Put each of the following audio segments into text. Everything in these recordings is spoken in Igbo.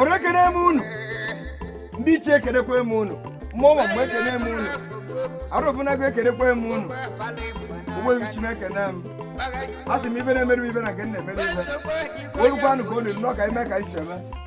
ọrụ ekene m unu ndị ichie ekenekwa m unu mmụọ ma mgbe ekene m unu arọbinagụ ekenekwa m unu ogbebi chineke na m a sị m ife na-emere ibe na nke m na-emere ibe olukwanụ ka o liri n'ọka ime ka anyị si eme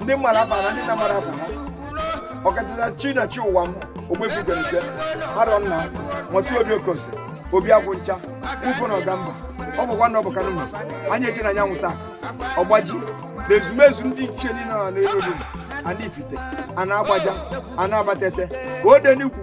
ndị mara afa na ndị na-amarọ afa ha ọkachasị chi na chi ụwa m ogbuefi ugonike arọ nna nwatụ obi okosi obi agwụ ncha ufo na ọgamba ọ bụkwa na ọ bụ kanụma anyị eche na anyanwụ taa ọgbaji na ezumezu ndị ichie niile nọ n'elu olulu ana ifite ana agbaja ana abatete ka o de n'ikwu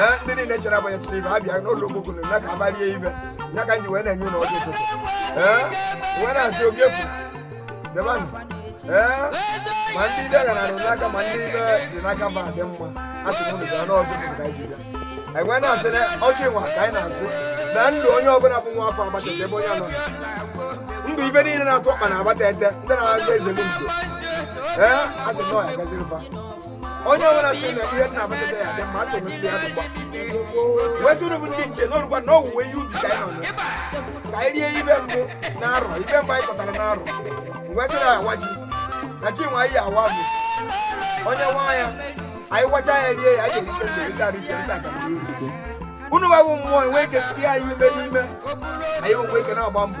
ee ndị niile chere abanye tụrụ ibe abịa n'ụlọ okpokoro na ka abalie ibe ya ka anyị ji wee na-enye unu ọjị ụtụtụ ee wee na-asị obi efu debanụ ee ma ndị ife gara arụ n'aka ma ndị ife dị n'aka fa dị mma a sị unu bịa na ọjị ụtụtụ ka anyị ji bịa anyị wee na-asị na ọjị nwa ka anyị na-asị na ndụ onye ọbụla bụ nwa afọ abatete ebe onye anọ ndụ ibe niile na-atụ ọkpa na abatete ndị na-agba eze n'udo ee a sị na ọ ya-agaziri fa onye ọbụla sị na ihe dị na abatete ya dị mma asị m ndị ahụ gba wee sị unu bụ ndị ichie na o rukwa na owuwe ihe ubi ka anyị nọ na ya. ka anyị rie ife mbụ na arọ ife mbụ anyị kọtara na arọ wee sị na awa ji na chi nwa anyị awa bụ onye nwa ya anyị gwacha ya rie ya anyị erite mgbe rita rita rita ka anyị eri ise unu bụ mmụọ wee ike tie anyị ume n'ime anyị enwe ike na-agba mbọ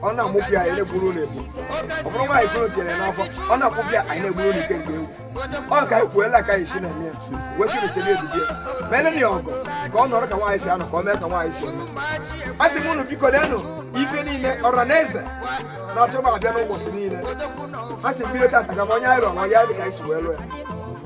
ọ na-amụpụ ya anyị na-egburu unu egbu ọ bụrụ nwaanyị kụrụ tinyere n'afọ ọ na-akwụpụ ya anyị na-egburu unu ike nke egwu ọ ka anyị kwuela ka anyị si na-eme ya wee sị rutere ebibi ya ma ele ya ọgụ ka ọ nọrọ ka nwaanyị si anọ ka ọ mee ka nwaanyị si anọ a sị m unu biko denụ ife niile ọra na eze na-achọ ma abịa n'ụbọchị niile a sị m bido tata ka m onye anyị rụọ ma onye anyị dị ka anyị si wee lụọ ya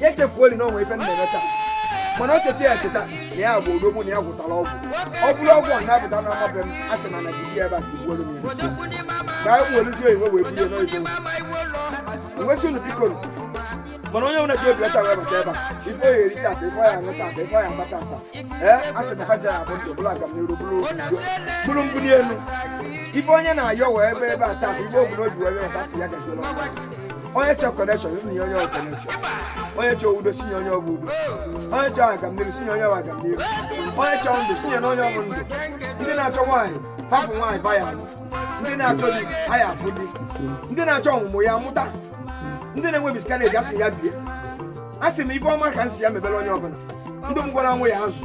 ya echefuoli na o nwe ife m na-eme taa mana o cheta ya cheta na ya bụ odogwu na ya gwọtara ọgwụ ọ bụrụ ọgwụ a na-apụta na ama be m a sị na na jiri ebe a tigbuoro m ya nsị. ka anyị werezie oyiwe wee bulie n'oyibo wee sị unu biko nụ. mana onye ọbụla ji obi ọcha wee bata ebe a ife ọ ya-eri tata ife ọ ya-aṅụ tata ife ọ ya-agba tata ee a sị na ha ja-abụ ndụ bụrụ agamniru bụrụ obi udo bụrụ mbuli elu ife onye na-ayọ wee bịa ebe a tata ife o bu n'obi wee bịa ebe a sị ya gaziri unu. onye chọ connection unu nye onye connection onye chọ udo sị nye onye ọ bụ udo onye chọ agamniru sị nye onye ọ bụ agamniru onye chọ ndụ sị nye na onye ọ bụ ndụ ndị na-achọ nwaanyị fa afụ nwaanyị fa ya-alụ ndị na-achọ di ha ya-afụ di ndị na-achọ ọmụmụ ya mụta ndị na-enwe miscarriage asị ya bie a sị m ife ọma ka m sị ya mebere onye ọbụla ndị m gwara nwa ya azụ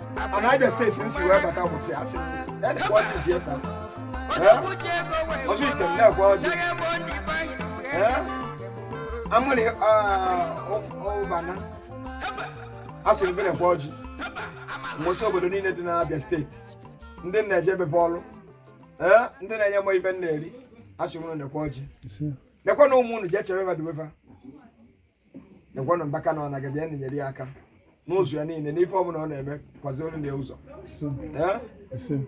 mana abịa steeti m si wee bata ụbọchị asị m nekwa ọjị ji eta ọjị ite m na-ekwe ọjị amụrị ụbana asịrị bere kwa ọjị mmụọ si obodo niile dị n'abịa steeti ndị m na-eje ebe fa ọrụ ee ndị na-enye m ife m na-eri asị m nekwa ọjị nekwa na ụmụ unu ji echebe mmadụ wefa nekwanụ mbaka na ọ nagaji ya nyere ya aka n'ụzọ ya niile n'ife ọbụla ọ na-eme kwazoro ya ụzọ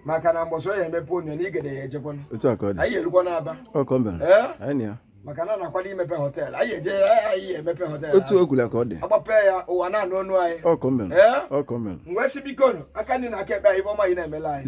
maka na mbọsị ọ ya emepe onye na igede ya ejekwana anyị erukwa n'aba maka na na-akwado imepe họteelụ anyị eje anyị emepe họteelụ otu ogwula ka ọ dị agbape ya ụwa na-anụ ọnụ anyị m wee sị bikonu aka nni na aka ekpe anyị ife ọma anyị na-emela anyị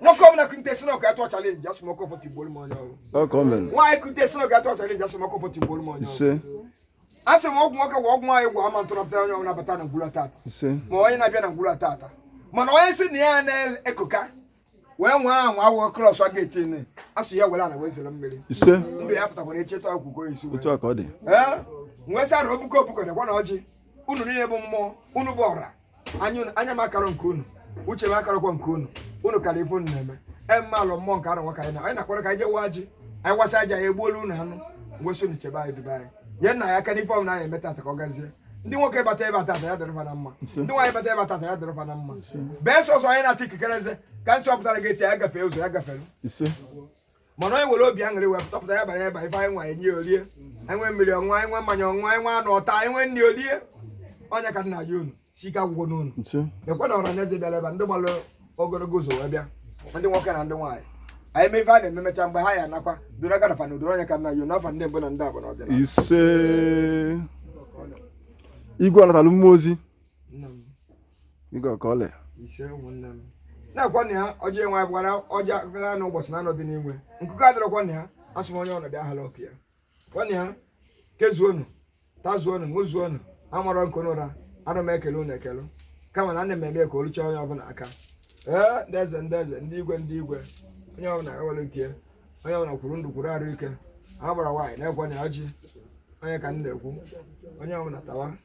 nwoke ọbụla kute sị na ọ ga-atụ chalenji asị m ọkọ fọtụ igbo m onye ọrụ nwaanyị kute sị na ọ ga-atụ chalenji asị m ọkọ fọtụ igbo m onye ọrụ asị m ọgwụ nwoke gwa ọgwụ nwaanyị gwa ama ntụrụpụta onye ọbụla bata na ngwulu a tata ma onye na-abịa na ngwulu a tata mana onye sị na ya na-ekoka wee nwee ahụ awụ krọs a ga-eti ne asụ ya were ana wee zere mmiri ndụ ya pụtakwara echeta akwụkwọ isi wee nwesara obuko obuko nekwanụ ọjị unu niile bụ mmụọ unu bụ ọra anya m akarọ nke unu uche m akarọkwa nke unu unu kara ife unu na-eme emealụ mmụọ nke arọ nwoke anyị na anyị na-akwara ka anyị je waa ọjị anyị wasịa ọjị a ya-egbulu unu anụ m wee sị unu chebe anyị dube anyị nyelụ anyị aka n'ife ọbụla anyị eme tata ka ọ gazie ndị nwoke bata ebe a tata ya dịrị fa na mma ndị nwaanyị bata ebe a tata ya dịrị fa na mma bee sọsọ onye na-ata ikikere eze ka m sị ọ pụtara gị eti ya gafee ụzọ ya gafere mana onye nwere obi aṅụrị wee pụtapụta ya bara ya bara ife anyị nwe enye o rie anyị nwee mmiri ọṅụṅụ anyị nwee mmanya ọṅụṅụ anyị nwee anụ ọ taa anyị nwee nri o rie ọ nya ka m na-ayọ unu sị ike agwụkwana unu nekwanụ ọra na eze bịara ebe ndị gbalụ ogologo ụzọ wee bịa ndị nwoke na ndị nwaanyị anyị mee ife a na-eme mecha mgbe ha ya nakwa doro aka nafa na odoro ọ nya ka m na-ayọ n'afa ndị mbụ na ndị abụ na ọdịnala ise igwe ọnatalụ mmụọ ozi nne m Igwe ọka ọlị. ise ụmụnne m nekwanụ ya ọjị enwe anyị bụkwara ọjị akụkara anụ ụbọchị na anọdị n'igwe nkụkọ adịrọkwa na ya asị m onye ọnọdụ ahala ọkụ ya kwa na ya kezuonu tazuonu ṅụzuonu amarọ nke unu ra ana m ekele unu ekele kama na ana m eme ka o luchaa onye ọbụla aka ee ndị eze ndị eze ndị igwe ndị igwe onye ọbụla ewere nke ya onye ọbụla kwuru ndụ kwuru arụ ike agbara nwaanyị nekwanụ ya ọjị ọ nya ka m na-ekwu onye ọbụla tawa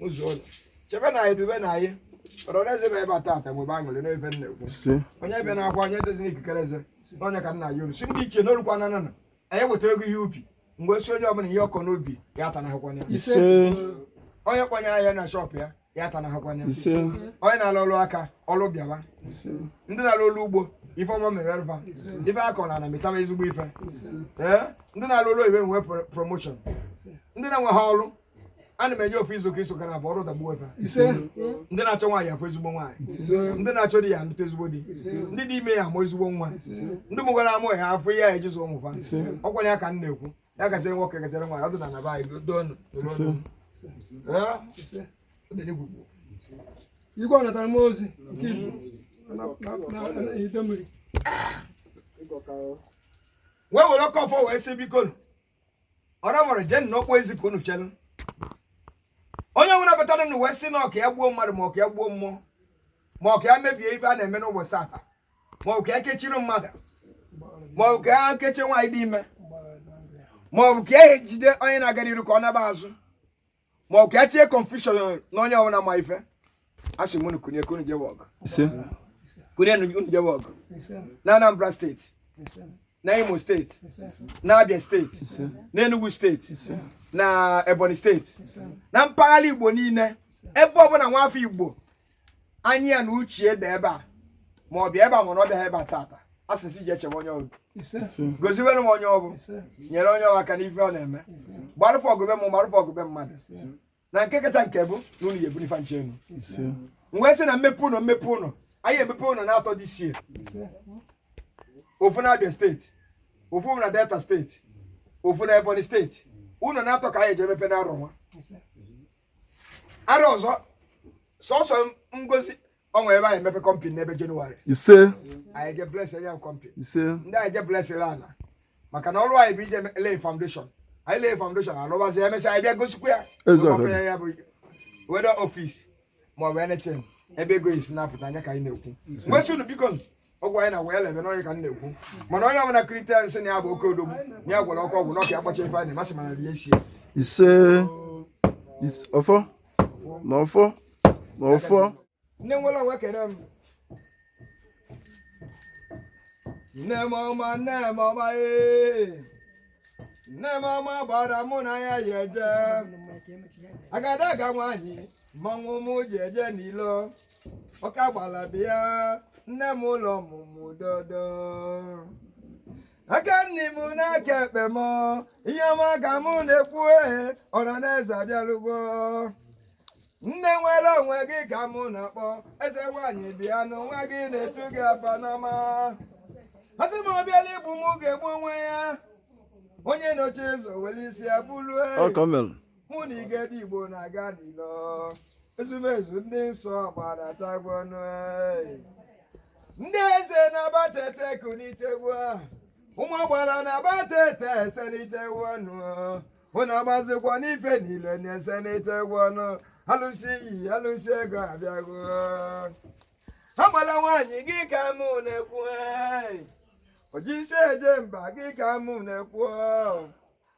ṅụzuonu chebenụ anyị dubenụ anyị ọra na eze bịa ebe a tata nwee aṅụrị n'ife m na-ekwu onye ebena akwa onye atazina ikikere eze na ọ nya ka m na-ayọ unu sị ndị ichie n'olukwa na nana anyị wetara ego ihe ubi m wee sị onye ọbụla ihe ọ kọ n'ubi ya ata na ya onye kpọnye ahịa na shọpụ ya ya ata na ya onye na-alụ ọlụ aka ọlụ bịawa ndị na-alụ ọlụ ugbo ife ọma mere fa ife a kọ n'ana mịtaba ezigbo ife ndị na-alụ ọlụ iwe nwee promoshọn ndị na-enwerọ ọlụ ana m enye ofu izu ka iso ka na-abụ ọrụ dagbuo efe ise ndị na-achọ nwaanyị afụ ezigbo nwaanyị ise ndị na-achọ di ya anụta ezigbo di ise ndị dị ime ya amụ ezigbo nwa ise ndị mụgoro amụ ya afụ ihe ya eji zụ ụmụ fa ise ọkwa ya ka m na-ekwu ya gaziere nwoke gaziere nwaanyị ọdịnana be anyị doo nụ doo ise nụ Ee? Ọ dị n'egwu ugbu a. igwe ọ natara m ozi nke izu na Idemmiri wee were oke ọfọ wee sị biko nụ ọra nwere jeenụ n'ọkpọ ezi ka unu chere onye ọbụla batara nụ wee sị na ọ ka ya gbuo mmadụ ma ọ ka ya gbuo mmụọ ma ọ ka ya mebie ife a na-eme n'ụbọchị tata ma ọ bụ ka ya kechiri mmadụ ma ọ bụ ka ya kechie nwaanyị dị ime ma ọ bụ ka e jide onye na-aga n'iru ka ọ naba azụ ma ọ ka ya tinye confusion na onye ọbụla ma ife asị m unu kunie ka unu jewe ọgụ ise kunienụ jewe ọgụ na Anambra steeti na Imo steeti na Abia steeti na Enugu steeti na Ebonyi steeti na mpaghara Igbo niile ebe ọbụla nwa afọ Igbo anya ya na uche dị ebe a ma ọ bịa ebe a ma na ọ bịaghị ebe a tata a sị si je chebe onye ahụ gọziere m onye ahụ nyere onye ahụ aka n'ife ọ na-eme gbarụfụ ọgụ be m gbarụfụ ọgụ be mmadụ na nke kacha nke bụ na unu ga-ebuli fa ncha enu m wee sị na mmepe ụlọ mmepe ụlọ anyị emepe ụlọ naatọ this year ofu na Abia steeti ofu na Delta steeti ofu na Ebonyi steeti ụlọ naatọ ka anyị eje emepe n'arọ nwa arọ ọzọ sọsọ ngozi ọ nwee ebe anyị emepe company n'ebe Jenụwarị ise anyị eje bless ya company ise ndị anyị eje bless ana maka na ọrụ anyị bụ ije lay foundation anyị lay foundation a lụbazie ya e mesịa anyị bịa gọzikwaa ya Eziokwu. Ọkwa ya bụ whether office maọbụ anything ebe ego esi na-apụta ọ ya ka anyị na-ekwu m wee sị unu biko ọgwụ anyị na wee lebe n'onye ka m na-ekwu mana onye ọbụla kulite sị na ya bụ oke odogwu na ya gwọrọ oke ọgwụ na ọ ga-akpasa ife anyị masị m ana rie isi e ise is- ọfọ na ọfọ na ọfọ nne nwere onwe kere m nne m ọma nne m ọma ee nne m ọma agbara mụ na ya yị eje agadaga nwaanyị mmanwụ m ji eje n'ilo oke agbala bịa nne m ụlọ ọmụmụ dodo aka nni m na aka ekpe m ihe ọma ka mụ na-ekwu ehe ọra na eze abịalụgo nne nwere onwe gị ka mụ na-akpọ eze nwaanyị bịa na onwe gị na-etu gị afa n'ama asị m ọ bịara igbu m ga-egbu onwe ya onye nọchi ụzọ were isi ya buru Ọ ka o mere. mụ na igede igbo na-aga n'ilo ezumezu ndị nsọ gbadatagwo ọnụ ee. ndị eze n'abatete kunitegwo ụmụ agbara n'abatete eselitegwo ọnụ ụna agbazikwa n'ife niile na-eselitegwo ọnụ alụsị iyi alụsị ego abịago agbala nwaanyị gị ka mụ na-ekwu ee. oji isi eje mba gị ka mụ na-ekwu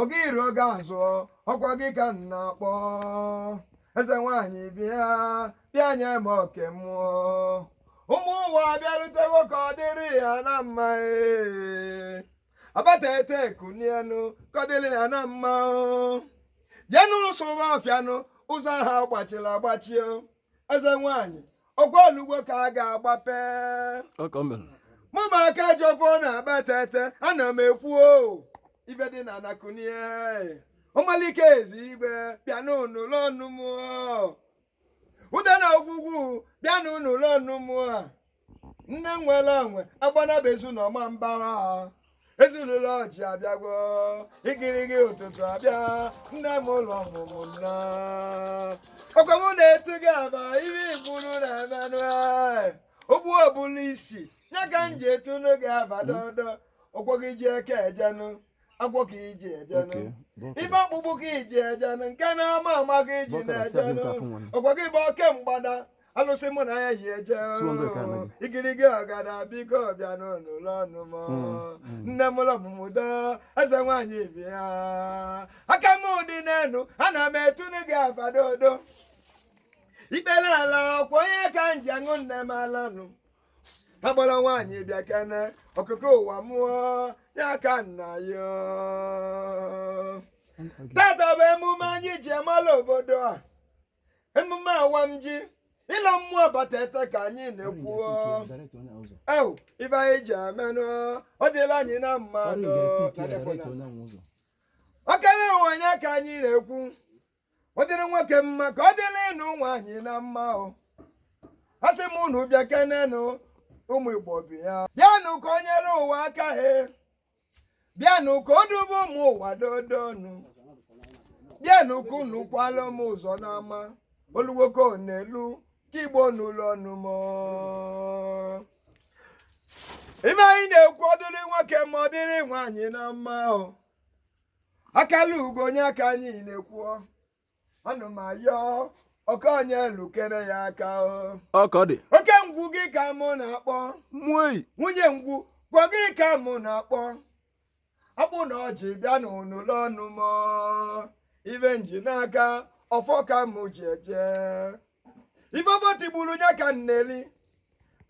ọga iru ọga azụ ọkwa gị ka m na-akpọ eze nwaanyị bịa bịa nye m oke mmụọ ụmụ ụwa bịarutego ka ọ dịrị ya na mma ee. abatete kunienu ka ọ dịrị ya na mma o. jenu sụwa ọfịanụ ụzọ ha gbachiri agbachio eze nwaanyị ọkwa olugbo ka a ga-agbape ọka o mere mụ ma aka ji ọfọ n'abatete ana m ekwu o ife dị n'ana kunie ọmaliko ezi igbe bịa nụlụ ọnụ m o. ude na ogwugwu bịa nụlụ ọnụ m a nne nwere onwe agbanaba ezu na ọma mbara ezinụlọ ọjị abịagwo igirigi ụtụtụ abịa nne mụlụ ọmụmụ nna ọkwa mụ na-etu gị afa ihe igburu na emenụ ogbuo bulu isi ya ka m ji etunu gị afa dodo ọkwa gị ji eke ejenụ agwọ ka iji ejenụ ibe ọkpụkpụ ka iji ejenụ nke na-ama ama ka iji na-ejenụ ọkwa gị bụ oke mgbada alụsị mụ na ya yi eje oo. igirigi ọgada biko bịa nụlụ ọnụ m oo. nne mụlụ ọmụmụ doo eze nwaanyị bịa aka m dị n'elu ana m etunu gị afa dodo ikpere ala ọkwa ọ nya ka m ji aṅụ nne m alanụ agbara nwaanyị bịa kene ọkụkọ ụwa mụọ ya ka nna ya oo. tata bụ emume anyị ji emala obodo a emume awam ji ịlọ mmụọ abatete ka anyị na-ekwu ife anyị ji emenụ ọ dịla anyị na mma nụ ọkara ụwa anya ka anyị na-ekwu ọ dịrị nwoke mma ka ọ dịrịnụ nwaanyị na mma o a sị m unu bịa kenenụ ụmụ igbo bịa bịanụ ka o nyere ụwa aka he bịanụ ka o dube ụmụ ụwa dodonu bịanụ ka unu kwala m ụzọ n'ama oluwoko n'elu ka igbo nụlụ ọnụ m ife anyị na-ekwu ọ dịrị nwoke ma ọ dịrị nwaanyị na mma o akala ugo onye aka anyị na-ekwu ana m ayọ ọka onye lukere ya aka o ọkọ dị oke ngwu gị ka mụ na-akpọ nwei nwunye ngwu gwa gị ka mụ na-akpọ akpụ na ọjị bịanụ lenụ m ife m ji n'aka ọfọ ka mụ ji eje ife ọfọ tigburu ya ka m na-eri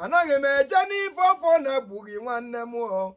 anaghị m eje n'ife ọfọ na-egbughị nwanne m o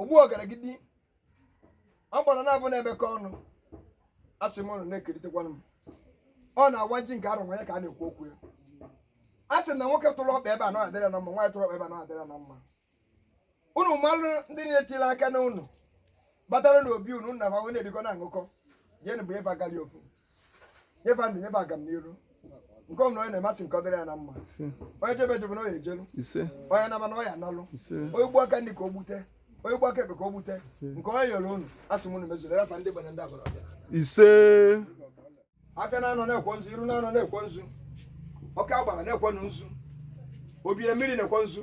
ogbu ọgaragidi agbara naabọ na-emekọ ọnụ asị m unu na-ekeritekwanụ m ọ na-awa ji nke arụwa ya ka a na-ekwu okwu ya a sị na nwoke tụrụ ọkpa ebe a na adịrị ya na mma nwaanyị tụrụ ọkpa ebe a na adịrị ya na mma unu malụ ndị na-etiri aka enu unu batara na obi unu na fa wee na-erikọ na-aṅụkọ jeenụ bunye fa agali ofu nye fa ndụ nye fa agamniru nke ọbụna onye na-eme a sị ka ọ dịrị ya na mma onye jebe ejebe na ọ ya ejelu onye nama na ọ ya analu onye gbuo aka nri ka o gbute onye gbuo aka ekpe ka o gbute nke onye yọrọ unu asị m unu mezuoro ya fa ndị gbanye ndị agbara ọbịa ise afịa naanọ naakwọ nzu iru naanọ naakwọ nzu oke agbara naakwọ nzu obi na mmiri naakwọ nzu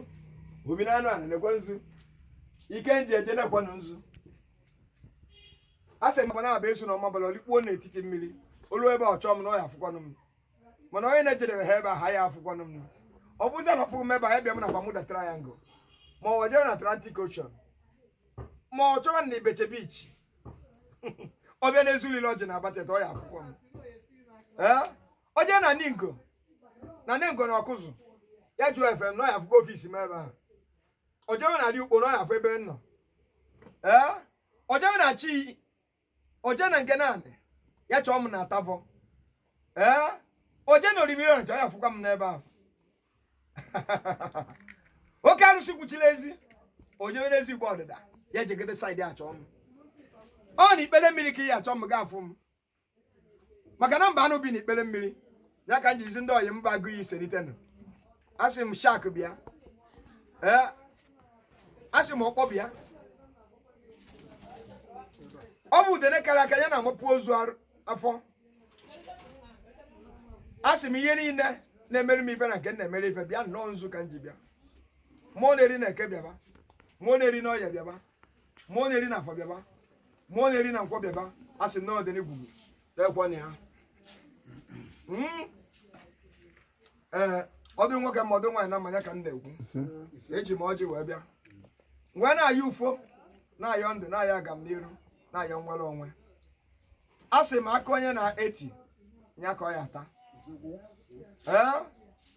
obi na enu ana naakwọ nzu ike m ji eje naakwọ nzu a sị m agbanabọ ezu na ọmabala o likpuo n'etiti mmiri o luo ebe ọ chọọ m na ọ ya afụkwanụ m mana onye na-ejedebe ha ebe a ha ya afụkwanụ m ọ bụzi na ọ fụghị m ebe a ebịa m na Bermuda Triangle ma ọ jere na Atlantic Ocean ma ọ chọwa na Ibeshe Beach ọ bịa na-ezulile ọjị na abatete ọ ya afụkwa m Ee? o jee na ningo na ningo na ọkụzụ ya jụọ efe m na ọ ya afụkwa ofisi m ebe ahụ o jewe na-adị ukpo na ọ ya afụ ebe m nọ ee o jewe na ichi o je na ngene anị ya chọọ m na atavọ ee o je na orimiri ọnịcha ọ ya afụkwa m n'ebe ahụ oke arụsị kwuchiri ezi o jewere ezi igbo ọdịda ya ejegide saịdị achọ m ọ na ikpere mmiri ka ya achọ m ga afụ m maka na mba anụ bi na ikpere mmiri ya ka m jizi ndị ọyị mba agụ ya iselitenụ asị m shak bịa ee asị m ọkpọ bịa ọ bụ udene kara aka ya na-amapụ ozu arụ- afọ a sị m ihe niile na-emere m ife na nke m na-emere ife bịanụ ọ nzu ka m ji bịa mụọ na-eri na eke bịaba mụọ na-eri na oye bịaba mụọ na-eri na afọ bịaba mụọ na-eri na nkwọ bịaba a sị m na ọdịnigwugwu ekwe na ya Mm. ee ọ dụrụ nwoke ma ọ dụ nwaanyị na mma ya ka m na-ekwu eji m ọjị wee bịa wee na-ayọ ufo na-ayọ ndụ na-ayọ agamniru na-ayọ nnwere onwe a sị m akụ onye na-eti ya ka ọ ya-ata ee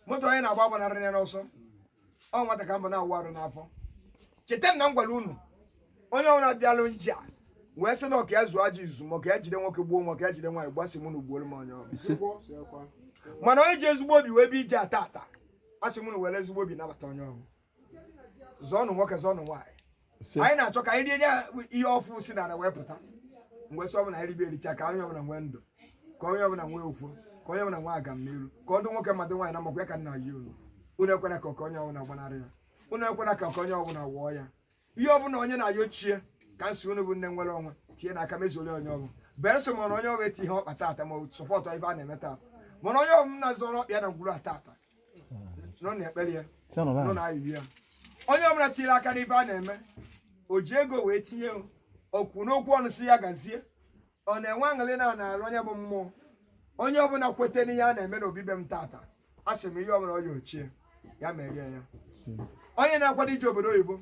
moto onye na-agba agbanarịrị ya n'ọsọ ọ nwata ka m bụ na-awụ arụ n'afọ cheta m na m gwara unu onye ọbụla bịalụ ije a wee sị na ọ ka ya zuo ajọ izu ma ọ ka ya jide nwoke gbuo ma ọ ka ya jide nwaanyị gbuo a sị m unu gbuoro m onye ọbụla ise mana onye ji ezigbo obi wee bịa ije a tata a sị m unu were ezigbo obi nabata onye ọbụla zọọnụ nwoke zọọnụ nwaanyị si anyị na-achọ ka anyị rie nye ihe ọfụ si n'ala wee pụta m wee sị ọ bụrụ e ribe e richa ka onye ọbụla nwee ndụ ka onye ọbụla nwee ụfụ ka onye ọbụla nwee agam n'iru ka ọ dị nwoke mma dị nwaanyị mma ọ kwa ya ka m na-ayọ unu unu ekwena ka oke onye ọbụla gbanarị ya unu ekwena ka oke onye ọbụla wụọ ya ihe ọbụla onye na-ayọ chi ya ka m sị unu bụ nne nwere onwe tinye n'aka mezuoro onye ọbụla berụ sọ mana onye ọbụla etinye ọkpa tata ma sọpọtụ ife a na-eme tata mana onye ọbụla zọrọ ọkpa ya na ngwuru a tata nọ na-ekpere ya nọ na ayiri ya onye ọbụla tinyere aka n'ife a na-eme o ji ego wee tinye okwu n'okwu ọnụ sị ya gazie ọ na-enwe aṅụrị na na-arụ onye bụ mmụọ onye ọbụla kweta n'ihe a na-eme n'obi be m tata a sị m ihe ọbụla ọ yọ chi ya ya meere ya onye na-akwado ije obodo oyibo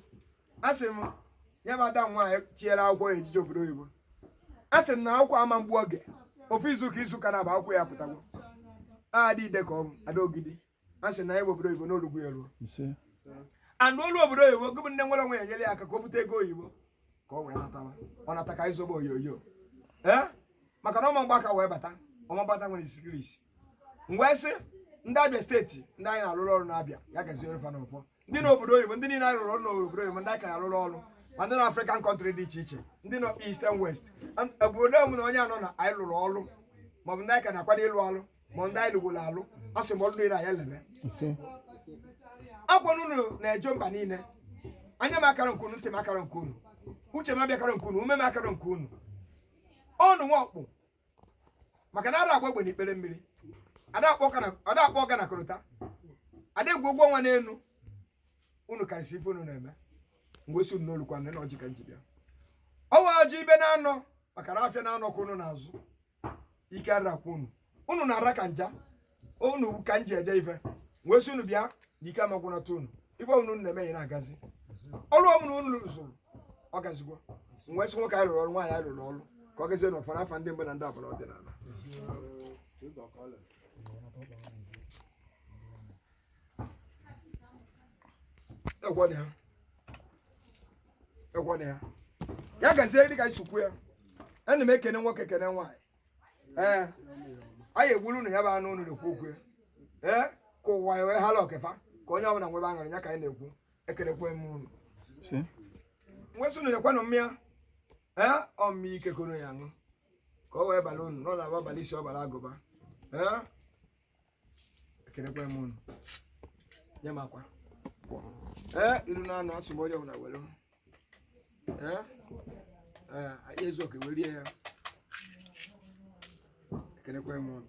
a sị m ya bụ ada nwaanyị tinyere akwụkwọ ya e ji eje obodo oyibo a sị m na akwụkwọ ama egbu oge ofu izu ụka izu ụka naabọ akwụkwọ ya pụtago ada ide ka ọ bụ ada ogidi a sị na ya bụ obodo oyibo n'olugbu ya ruo ise and o lu obodo oyibo gị bụ nne nwere onwe ya nyere ya aka ka o bute ego oyibo ka ọ wee natara ọ nata ka ịzọba oyoyo ee maka na ọ ma agba aka wee bata ọma mgbata nwere isikiri isi m wee sị ndị abịa steeti ndị anyị na-arụrụ ọrụ na abịa ya gaziere fa n'ọfọ ndị na obodo oyibo ndị niile anyị rụrụ ọrụ n'obodo oyibo ndị a ka ya-arụrụ ọrụ ma ndị nọ African country dị iche iche ndị nọ east and west And obodo ọbụna onye nọ na anyị lụrụ ọrụ maọbụ ndị anyị ka na-akwado ịlụ ọrụ ma ndị anyị lụgoro alụ a sị m ọrụ niile anyị leme ise ọ kwa unu na-eje mba niile anya m akara nke unu ntị m akara nke unu uche m abịakara nke unu ume m akara nke unu ọnụ nwa ọkpụ maka na ara agba egbe n'ikpere mmiri ada akpọ ọga na- ada akpọ ọga na korota ada egwu ụgwọ ọnwa n'elu unu karịsị ife unu na-eme m wee sị unu nụlụkwanụ na ọjị ka m ji bịa ọ wa ọjị ibe naanọ maka na afịa naanọ ka unu na-azụ ike ara agwụ unu unu na-ara ka nja unu ka m ji eje ife m wee sị unu bịa na ike ama agwụnata unu ife ọbụla unu na-eme ya na-agazi ọrụ ọbụla unu rụrụ ọ gazigwo m wee sị nwoke anyị rụrụ ọrụ nwaanyị anyị rụrụ ọrụ ka ọ gazie n'ọfọ n'afọ ndị mbụ na ndị abụọ ọdịnala egwọna ya egwọna ya ya gazie dịka anyị si kwuo ya ana m ekene nwoke kene nwaanyị ee anyị egburu unu ya bụ anụ unu na-ekwu okwu ya ee ka ụwa ya wee hala ọkefa ka onye ọbụla nwebe aṅụrị ya ka anyị na-ekwu ekelekwe m unu si nwesị unu lekwanụ mmịa ee ọ mmịa ike ka unu ya aṅụ ka o wee bala unu n'ụlọ abụ abalị isi ọbara agụba ee ekelekwa m unu nye m akwa ee iru na anụ asụ m onye ọbụla were ee ee anyị ezu oke were rie ya ekelekwa m unu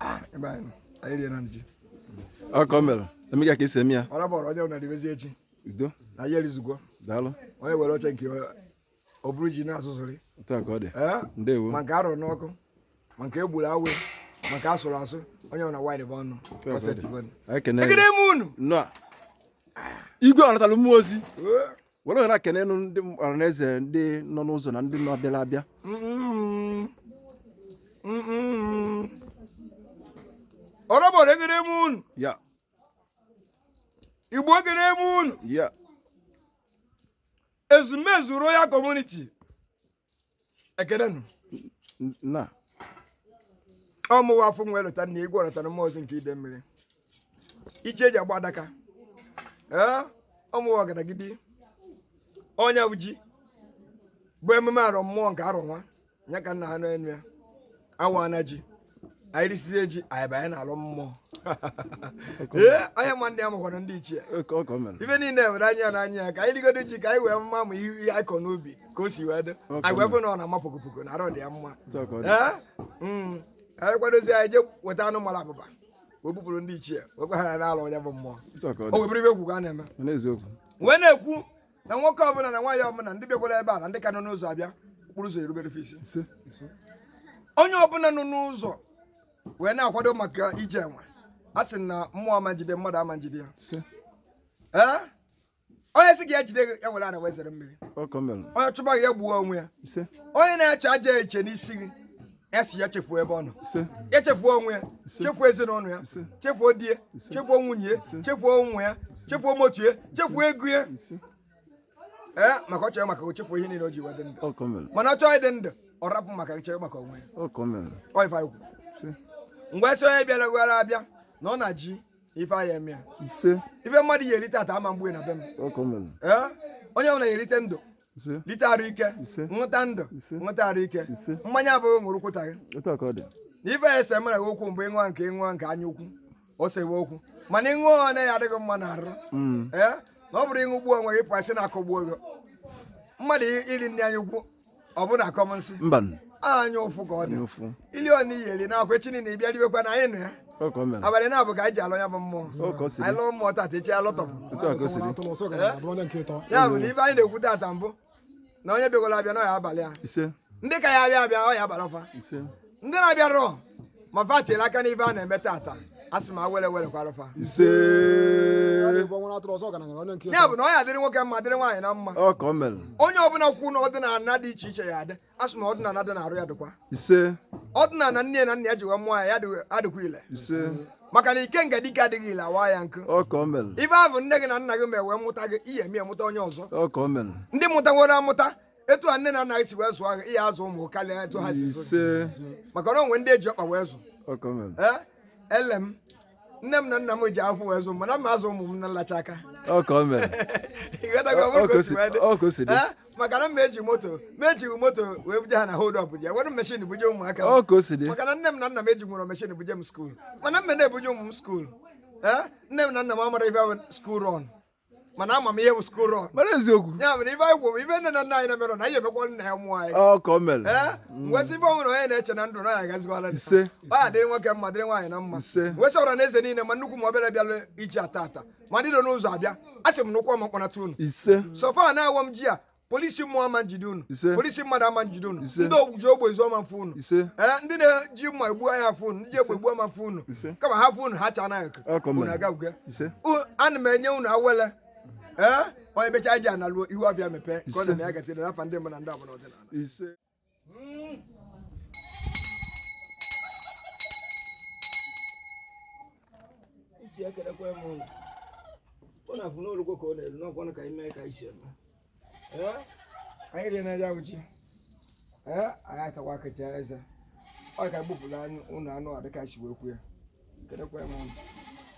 Ah, ọ ka ọ mere emega ka esi eme ya ọrabọrọ onye na-eribezi ji udo na anyị erizigo daalụ onye were oche nke ọ bụrụ ji na-asụsụrị ndewo ma nke arụrụ n'ọkụ ma nke egburu awaị ma nke asụrụ asụ onye ọ na wide bụ ọnụ ekene m unu igwe ọ natara mmụọ ozi were ohere a kenenụ ndị ọra na eze ndị nọ n'ụzọ na ndị nọ bịara abịa ọrọbọrọ ekene m unu ya igbo ekene m unu ya ezumezu royal community ekene nụ na ọ mụwa afụ nwa elota nna igwe ọ natara mmụọ ozi nke ide mmiri iche eji agba adaka ee ọ mụwa ọgadagidi onye bụ ji bụ emume arọ mmụọ nke arọ nwa ya ka nna ha n'enu ya awa na ji anyị risizie ji anyị banye n'alọ mmụọ ee onye ma ndị amakwana ndị ichie Ọ ka o mere. ibe niile were anya n'anya ya ka anyị rigodo ji ka anyị wee ma ma ihe ihe anyị kọ n'ubi ka o si wee dị Ọkụ anyị wee fụ na ọ na-ama pokopoko na arụ dị ya mma Ọ ka ọ dị. Ee? Mm. anyị kwadozie anyị jee weta anụ mara abụba wee bupụrụ ndị ichie wee gwa ha na alọ onye bụ mmụọ Otu a ka ọ dị. wee bụrụ ibe kwukwa a na-eme N'eziokwu. wee na-ekwu na nwoke ọbụla na nwaanyị ọbụla ndị bịakwara ebe a na ndị ka nọ n'ụzọ abịa okporo ụzọ erubere fa isi onye ọbụla nọ n'ụzọ wee na-akwado maka ije enwe a sị na mmụọ ama njide mmadụ ama njide ya ee onye sị ka ya jide ya were ana wee zere mmiri onye chụba gị ya gbuo onwe ya onye na-eche ajọ uche n'isi gị ya si ya chefuo ebe ọ nọ ise ya chefuo onwe ya chefuo ezinụlọ ya Ise. chefuo di ya Ise. chefuo nwunye ya Ise. chefuo ụmụ ya chefuo motu ya chefuo ego ya ise ee maka ọ chọrọ maka o chefuo ihe niile o ji wee dị ndụ ọ ka o mere mana ọ chọọ ịdị ndụ ọ rapụ m aka chere maka onwe ya ọ ka o mere ọ ife anyị kwuru ise ngwa sị onye bịara gwara abịa na ọ na ji ife anyị eme ya ise ife mmadụ ya erite ata ama mgbe na be m ọ ka o mere ee onye ọbụla ya erite ndụ ise lite arụ ike Ise. ṅụta ndụ Ise. ṅụta arụ ike Ise. mmanya abụghị ṅụrụ kwụta gị otu a ka ọ dị na ife ya ese mere gị okwu mgbe ịṅụọ nke ịṅụọ nke anya ukwu o sewe okwu mana ịṅụọ ọ ya-adị gị mma na arụ Mm. ee na ọ bụrụ ị ṅụgbuo onwe gị pụa sị na akọgbuo gị mmadụ iri nri anya ukwu ọ bụ na akọ m nsị mba anya ụfụ ka ọ dị n'ofu ili ọna iyi eri n'akwa echi niile ị bịa ribekwa na anyị nụ ya ọ ka o mere abalị naabọ ka anyị ji alụ ya bụ mmụọ o ka o siri anyị lụọ mmụọ tata echi alụtọpụ otu a ka o siri atụrụ ọsọ gara abụrụ onye nke ịtọ ya bụ na ife anyị na-ekwu tata bụ na onye bịagoro abịa na ọ ya-abalị ya ise ndị ka ya abịa abịa ọ ya-abalị fa ise ndị na-abịarọ ma fa tiere aka n'ife a na-eme tata a sị ma were were kwara fa ise ịbụ nwere atụrụ ọsọ gara gara onye nke ya ịtọ bụ na ọ ya dịrị nwoke mma dịrị nwaanyị mma ọ ka o mere onye ọbụla kwu na ọdịnala dị iche iche ya adị asị m na ọdịnala dị n'arụ ya dịkwa ise ọdịnala nne na nna ya ji wee mụọ ya ya dị- adịkwa ile ise maka na ikenga dike adịghị ile a waa ya nkụ ọ ka o mere ife ahụ nne gị na nna gị mee wee mụta gị ị ya-eme mụta onye ọzọ ọ ka o mere ndị mụtaworo amụta etu a nne na nna gị si wee zụọ gị ị ya-azụ ụmụ karịa etu ha si zụ gị. ise maka na o nwe ndị e ji ọkpa wee zụ ọ ka o mere ee ele m nne m na nna m ji afọ wee zụ m mana m azụ ụmụ m na nlacha aka ọ ka o mere Ị ghọtago? Ọ bụrụ ka o si wee dị. ọ ka o si dị Eh? maka na m eji moto m ejighị moto wee buje ha na hold up ji were meshin buje ụmụaka m. ọ ka o si dị maka na nne m na nna m eji nwere meshin buje m skuul mana m na-ebuje ụmụ m skuul Eh? nne m na nna m amarọ ife school run mana ama m ihe bụ school run mara eziokwu ya mere ife anyị gwụ ife nne na nna anyị na-emere na anyị emekwa nna ya mụọ anyị ọ ka o mere ee wee sị ife ọhụrụ onye na-eche na ndụ na ya agazikwala ndụ. Ise. ọ ya dịrị nwoke mma dịrị nwaanyị mma Ise. wee sị ọra na eze niile ma nnukwu ma obere bịalụ ji a tata ma ndị nọ n'ụzọ abịa a sị m na ụkwụ ọma kpọnata unu ise sọfa na-awọ m ji a polisi mmụọ ama njide unu Ise. polisi mmadụ ama njide unu Ise. ndị oji egbe ezu ama mfụ unu ise ee ndị na-eji mma egbu ama afụ unu ndị ji egbe egbu ama mfụ unu Ise. kama ha fụ unu ha cha anaghị Ọ ka o mere. unu agawuge ise U- ana m enye unu awele ee onye becha ji analụ ihu ọbịa mepee ka ọ na Ise. na ya gasịrị n'afa ndị mbụ na ndị ọbụla ọdịnala ise ọ na-afụ n'olugbo ka ọ na-elu n'ọkwanụ ka anyị mee ka anyị si eme anyị rie na ya uchi ee anyị atakwa akacha eze ọ ka gbupụrụ anyị ụlọ anụ a dịka si wee kwu ya ekelekwa m unu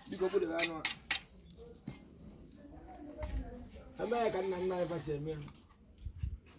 biko gbudere anụ a eme ya ka nna nna anyị fa si eme ya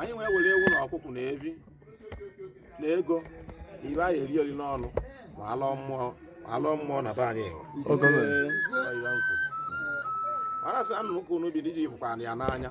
anyị wee were ewu na ọkụkụ na efi na ego na ife anyị eri eri n'ọnụ ma alụọ mmụọ ma alụọ mmụọ na be anyị mana sị anụ ụka unu bi dị iji fụkwa ya n'anya